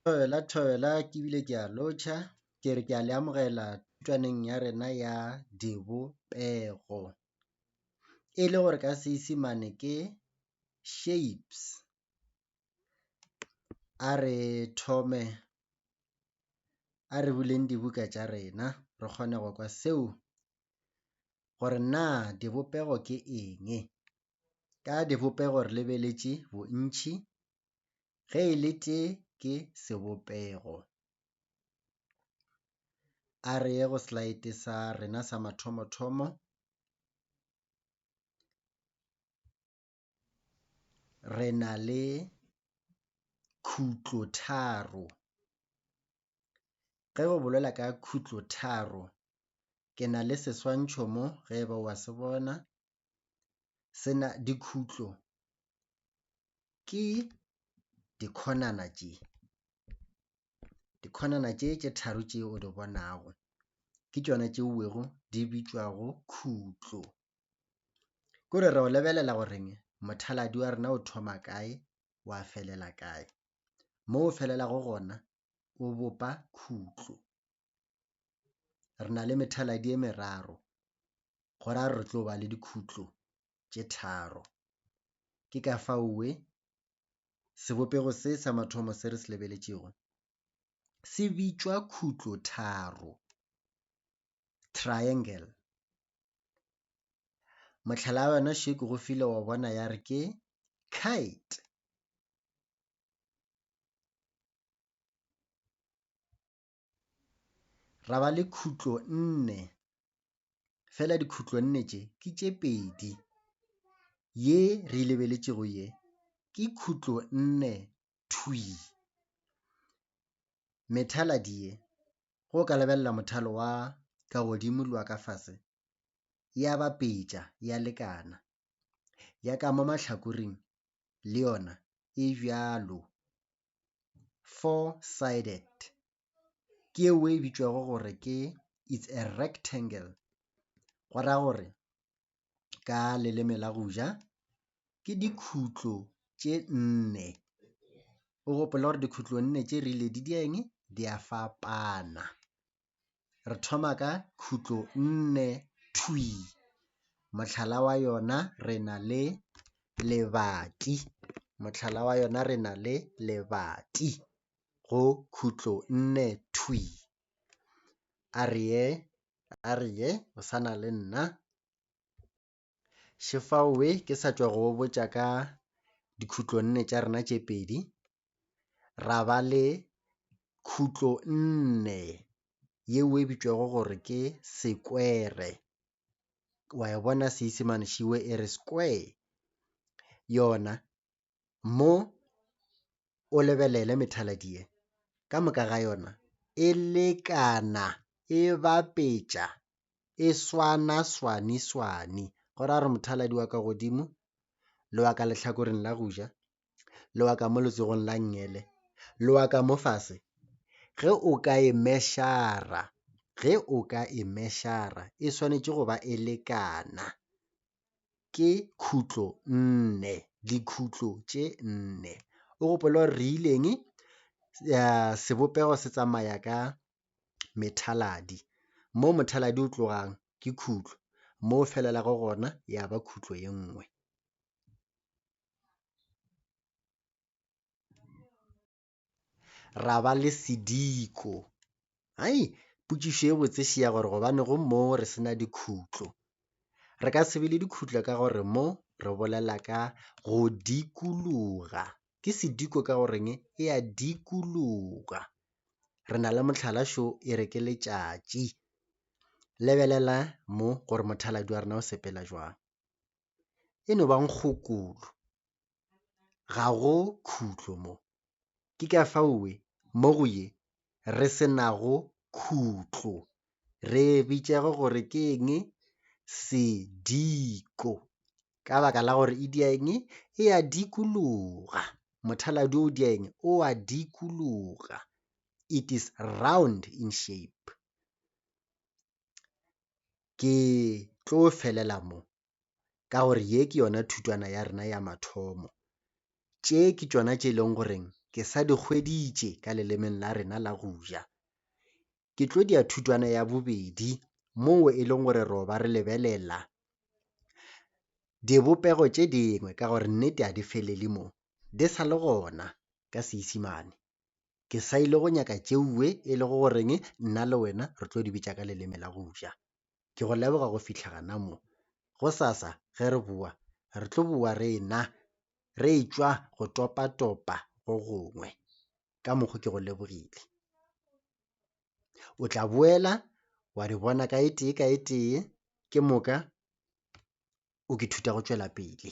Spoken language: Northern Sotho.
Thobela, thobela ke bile ke a lotšha, ke re ke a le amogela thutwaneng ya rena ya dibopego. E le gore ka Seesemane ke shapes, a re thome, a re buleng dibuka tša rena re kgone go kwa seo gore na dibopego ke eng. Ka dibopego re lebeletše bontši, ge e le tše ke sebopego. A re ye go slide sa rena sa mathomo-thomo. Re na le khutlo tharo. Ge go bolela ka khutlo tharo, ke na le seswantšho mo ge e ba wa se bona. sena dikhutlo ke dikhonana tše dikhonana tše tše tharo tše o di bonago ke tšona tše uwego di bitšwago khutlo ko re re o lebelela goreng mothaladi wa rena o thoma kae wa felela kae mo o felelago gona o bopa khutlo. re na le methaladi e meraro go ra re tlo ba le dikhutlo tše tharo ke ka fao we sebopego se sa mathomo se re se lebeletšego se bitšwa khutlo tharo triangle mohlala wa yona še ke go file wa bona ya re ke kite ra ba le khutlo nne, fela dikhutlo nne tše ke tše pedi, ye re e lebeletšego ye ke khutlo nne thwi. Methaladi ye, ge o ka lebelela mothalo wa ka godimo le wa ka fase, ya bapetša, ya lekana, ya ka mo mahlakoreng le yona e bjalo. four-sided, ke yeo e bitšwago gore ke it's a rectangle, go ra gore ka leleme la go ja ke dikhutlo tše nne, o gopola gore dikhutlo nne tše rile di di a eng? Di a fapana. re thoma ka khutlo nne thwi mohlala wa yona re na le lebati mohlala wa yona re na le lebati go khutlo nne thwi a re ye a re ye o sa na le nna Šefaowe ke sa tšwa go go botša ka dikhutlo nne tša rena tše pedi, ra ba le khutlo nne yeo e bitšwago gore ke sekwere, wa e bona Seisemane šiwe e re square yona. mo o lebelele methaladi ye ka moka ga yona e lekana e bapetša e swana swani swani go ra re mothaladi wa ka godimo le wa ka lehlakoreng la go ja le wa ka mo letsogong la ngele le wa ka mo fase ge o ka e meshara ge o ka e meshara e swanetše go ba e lekana ke khutlo nne, dikhutlo tše nne. O gopole gore re ile eng? Sebopego se tsamaya ka methaladi. Mo mothaladi o tlogang ke khutlo, mo o felelago gona ya ba khutlo ye nngwe. ra ba le sediko. Hai, potšišo ye botse še ya gore gobane go mo re se na dikhutlo. Re ka se be le dikhutlo ka gore mo re bolela ka go dikologa. Ke sediko ka goreng e a dikologa. Re na le mohlala šo e re ke letšatši. Lebelela mo gore mothaladi wa rena o sepela jwang. e no ba nkgokolo, ga go khutlo mo. Ke ka fao we mo go ye re se nago khutlo re e bitšego gore ke eng? Sediko. Ka baka la gore e dia eng? E a dikologa. Mothaladi o o dia eng? O a dikologa. It is round in shape. ke tlo felela mo ka gore ye ke yona thutwana ya rena ya mathomo. Tše ke tšona tše e leng goreng ke sa di hweditše ka lelemeng la rena la go ja. Ke tlo di ya thutwana ya bobedi mo e leng gore ro ba re lebelela dibopego tše dingwe ka gore nnete ga di felele mo di sa le gona ka Seesemane. ke sa ile go nyaka tšeue e lego goreng nna le wena re tlo di bitša ka leleme la go ja. Ke go leboga go fihla gana mo. Gosasa ge re boa, re tlo boa re e-na re e-tšwa go topa-topa go gongwe. Ka mokgo ke go lebogile. O tla boela wa di bona ka e tee ka e tee, ke moka o ke thuta go tšwela pele.